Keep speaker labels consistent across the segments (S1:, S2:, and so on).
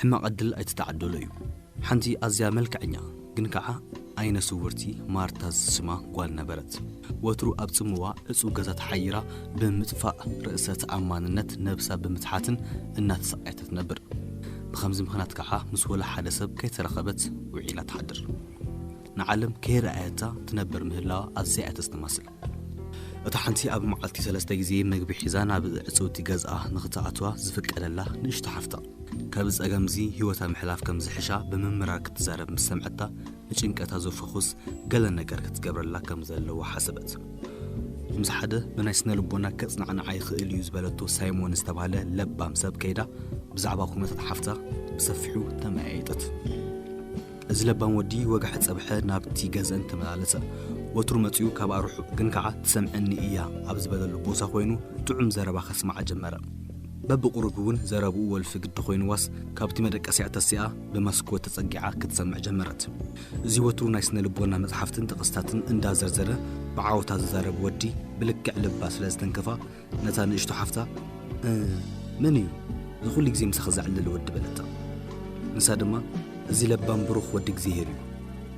S1: ሕማቕ ዕድል ኣይተተዓደሎ እዩ። ሓንቲ ኣዝያ መልክዐኛ ግን ከኣ ዓይነ ስውርቲ ማርታ ዝስማ ጓል ነበረት። ወትሩ ኣብ ጽምዋ ዕጹው ገዛ ተሓይራ ብምጥፋእ ርእሰ ተኣማንነት ነብሳ ብምትሓትን እናተሳቐየት ትነብር። ብኸምዚ ምኽንያት ከኣ ምስ ወላ ሓደ ሰብ ከይተራኸበት ውዒላ ትሓድር። ንዓለም ከይረኣየታ ትነብር ምህላዋ ኣዝያ እያ ተስተማስል። እታ ሓንቲ ኣብ መዓልቲ ሰለስተ ግዜ መግቢ ሒዛ ናብ ዕጽውቲ ገዝኣ ንኽትኣትዋ ዝፍቀደላ ንእሽቶ ሓፍታ፣ ካብዚ ጸገም'ዚ ህይወታ ምሕላፍ ከም ዝሕሻ ብምምራር ክትዛረብ ምስ ሰምዐታ፣ ንጭንቀታ ዘፍኹስ ገለ ነገር ክትገብረላ ከም ዘለዋ ሓሰበት። ምስ ሓደ ብናይ ስነ-ልቦና ከጽናዕንዓ ይኽእል እዩ ዝበለቶ ሳይሞን ዝተባህለ ለባም ሰብ ከይዳ ብዛዕባ ኩነታት ሓፍታ ብሰፊሑ ተመያየጠት። እዚ ለባም ወዲ ወጋሐ ጸብሐ ናብቲ ገዘን ተመላለሰ። ወትሩ መጺኡ ካብኣ ርሑቕ ግን ከኣ ትሰምዕኒ እያ ኣብ ዝበለሉ ቦሳ ኮይኑ ጥዑም ዘረባ ከስምዓ ጀመረ። በብቑሩብ እውን ዘረብኡ ወልፊ ግዲ ኮይንዋስ ካብቲ መደቀሲኣ ተሲኣ ብመስኮት ተጸጊዓ ክትሰምዕ ጀመረት። እዚ ወትሩ ናይ ስነ ልቦና መጽሓፍትን ጥቕስታትን እንዳ ዘርዘረ ብዓወታ ዝዛረብ ወዲ ብልክዕ ልባ ስለ ዝተንከፋ፣ ነታ ንእሽቶ ሓፍታ መን እዩ እዚ ኹሉ ግዜ ምሳኺ ዘዕልል ወዲ በለታ። ንሳ ድማ እዚ ለባም ብሩኽ ወዲ እግዚሄር እዩ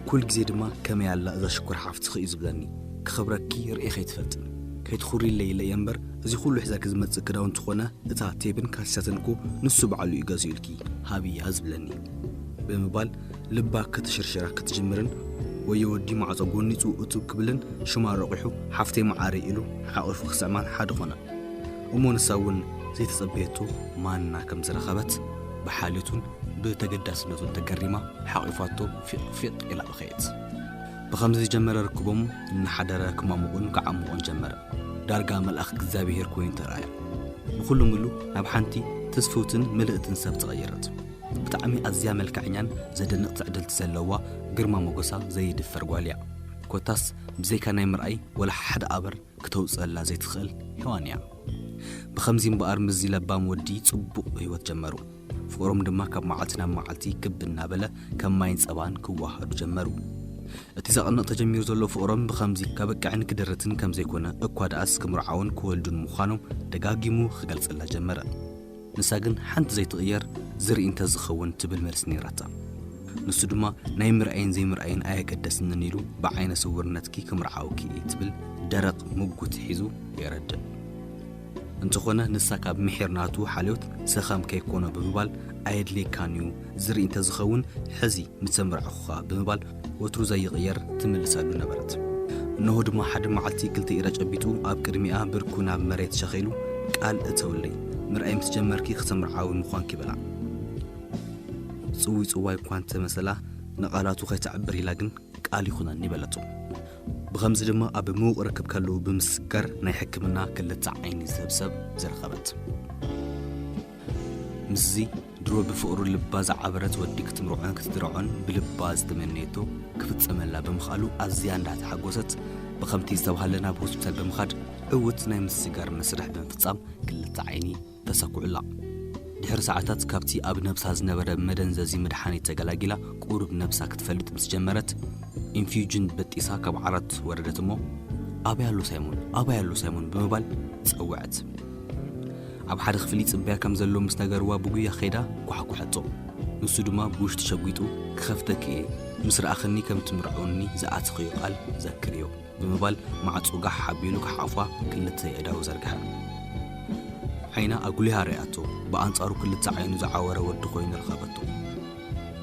S1: ኩል ግዜ ድማ ከመይ ኣላ እዛ ሽኮር ሓፍትኺ እዩ ዝብለኒ ክኸብረኪ ርእኽ ኣይትፈልጥን ከይትኹሪለይ ኢለ እየ እምበር እዚ ኹሉ ሒዛኪ ዝመጽእ ክዳውንቲ ኾነ እታ ቴብን ካሲሳትን እኮ ንሱ ባዕሉ እዩ ገዚኡልኪ ሃብያ ዝብለኒ ብምባል ልባ ክትሽርሽራ ክትጅምርን ወዮ ወዲ ማዕጾ ጎኒጹ እቱብ ክብልን ሽማ ረቝሑ ሓፍተይ መዓረይ ኢሉ ሓቚፉ ክስዕማን ሓደ ኾና። እሞ ንሳ እውን ዘይተጸበየቶ ማና ከም ዝረኸበት ብሓልዮቱን ብተገዳስነቱን ተገሪማ ሓቚፋቶ ፊቕ ፊቕ ኢላ በኸየት። ብኸምዚ ዝጀመረ ርክቦም እናሓደረ ክማሙቕን ክዓሙቕን ጀመረ። ዳርጋ መልኣኽ እግዚኣብሄር ኮይኑ ተራእያ። ብኹሉ ምሉ ናብ ሓንቲ ትስፍውትን ምልእትን ሰብ ተቐየረት። ብጣዕሚ ኣዝያ መልከዐኛን ዘደንቅ ትዕድልቲ ዘለዋ ግርማ ሞጎሳ ዘይድፈር ጓል እያ ኮታስ ብዘይካ ናይ ምርኣይ ወላ ሓደ ኣበር ክተውጽእላ ዘይትክእል ሄዋን እያ ብከምዚ እምበኣር ምስዚ ለባም ወዲ ጽቡቅ ሂወት ጀመሩ ፍቅሮም ድማ ካብ መዓልቲ ናብ መዓልቲ ክብ እናበለ ከም ማይን ጸባን ክወሃሃዱ ጀመሩ እቲ ዘቅንቅ ተጀሚሩ ዘሎ ፍቅሮም ብከምዚ ከብቅዕን ክድርትን ከምዘይኮነ እኳ ደኣስ ክምርዓውን ክወልዱን ምኳኖም ደጋጊሙ ክገልጸላ ጀመረ ንሳ ግን ሓንቲ ዘይትቕየር ዝርኢ እንተ ዝኸውን ትብል መልሲ ነይራታ። ንሱ ድማ ናይ ምርኣይን ዘይምርኣይን ኣየገደስንን ኢሉ ብዓይነ ስውርነትኪ ክምርዓውኪ እየ ትብል ደረቕ ምጉት ሒዙ የረድእ። እንተኾነ ንሳ ካብ ምሒር ናቱ ሓልዮት ሰኸም ከይኮኖ ብምባል ኣየድልየካን እዩ ዝርኢ እንተ ዝኸውን ሕዚ ምተመርዓኹኻ ብምባል ወትሩ ዘይቕየር ትምልሰሉ ነበረት። እንሆ ድማ ሓደ መዓልቲ ክልተ ኢዳ ጨቢጡ ኣብ ቅድሚኣ ብርኩ ናብ መሬት ሸኺሉ ቃል እተውለይ፣ ምርኣይ ምስ ጀመርኪ ክተምርዓዊ ምዃንኪ በላ። ጽውይጽዋይ እኳ እንተ መሰላ ንቓላቱ ከይተዕብር ኢላ ግን ቃል ይኹነኒ በለቶ። ብኸምዚ ድማ ኣብ ምዉቕ ርክብ ከለዉ ብምስጋር ናይ ሕክምና ክልተ ዓይኒ ዝህብ ሰብ ዝረኸበት። ምስዚ ድሮ ብፍቕሩ ልባ ዝዓበረት ወዲ ክትምርዖን ክትድርዖን ብልባ ዝተመነየቶ ክፍጸመላ ብምኽኣሉ ኣዝያ እንዳተሓጎሰት ብኸምቲ ዝተባህለ ናብ ሆስፒታል ብምኻድ ዕውት ናይ ምስጋር መስርሕ ብምፍጻም ክልተ ዓይኒ ተሰኩዑላ። ድሕሪ ሰዓታት ካብቲ ኣብ ነብሳ ዝነበረ መደንዘዚ መድሓኒት ተገላጊላ ቁሩብ ነብሳ ክትፈልጥ ምስ ጀመረት ኢንፍዩጅን በጢሳ ካብ ዓራት ወረደት እሞ ኣበይ ኣሎ ሳይሞን ኣበይ ኣሎ ሳይሞን ብምባል ጸወዐት። ኣብ ሓደ ክፍሊ ይጽበያ ከም ዘሎ ምስ ነገርዋ ብጉያ ከይዳ ኳሕኩሐቶ። ንሱ ድማ ብውሽጢ ሸጒጡ ክኸፍተኪ እየ ምስ ረኣኽኒ ከም ትምርዕውኒ ዝኣተኽዮ ቃል ዘክርዮ ብምባል ማዕጾ ጋሕ ኣቢሉ ክሓቑፋ ክልተ የእዳዉ ዘርግሐ። ዓይና ኣጉሊሃ ርእያቶ ብኣንጻሩ ክልተ ዓይኑ ዝዓወረ ወዲ ኮይኑ ረኸበቶ።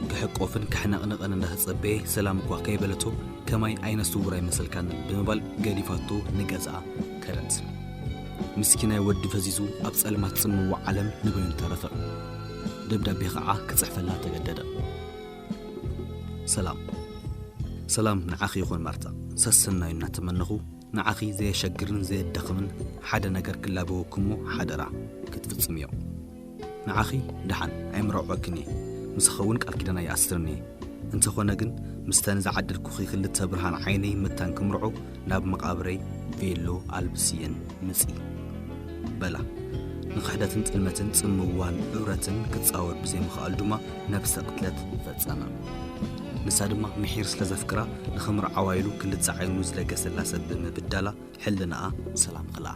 S1: ክሕቆፍን ክሕነቕነቕን እንዳተጸበየ ሰላም እኳ ከይበለቶ ከማይ ዓይነ ስዉር ኣይመሰልካንን ብምባል ገዲፋቶ ንገዝኣ ከደት። ምስኪናይ ወዲ ፈዚዙ ኣብ ጸልማት ጽምዋ ዓለም ንበይኑ ተረፈ። ደብዳቤ ኸዓ ክጽሕፈላ ተገደደ። ሰላም ሰላም ንዓኺ ይኹን ማርታ፣ ሰሰናዩ እናተመነኹ ንዓኺ ዘየሸግርን ዘየዳኽምን ሓደ ነገር ክላበወክሞ ሓደራ ክትፍጽምዮ። ንዓኺ ደሓን ኣይምረዖክን እየ፣ ምሳኺ እውን ቃል ኪዳን ኣይኣስርን እየ፣ እንተኾነ ግን ምስተን ዝዓደልኩኺ ክልተ ብርሃን ዓይነይ መታን ክምርዖ ናብ መቓብረይ ቬሎ ኣልብስየን ምጺ። በላ። ንኽሕደትን ጥልመትን ጽምዋን እብረትን ክትጻወር ብዘይምኽኣሉ ድማ ነብሰ ቅትለት ፈጸመ። ንሳ ድማ ምሒር ስለ ዘፍቅራ ንኽምርዓዋ ኢሉ ክልተ ዓይኑ ዝለገሰላ ሰብ ብምብዳላ ሕልናኣ ሰላም ኸልኣ።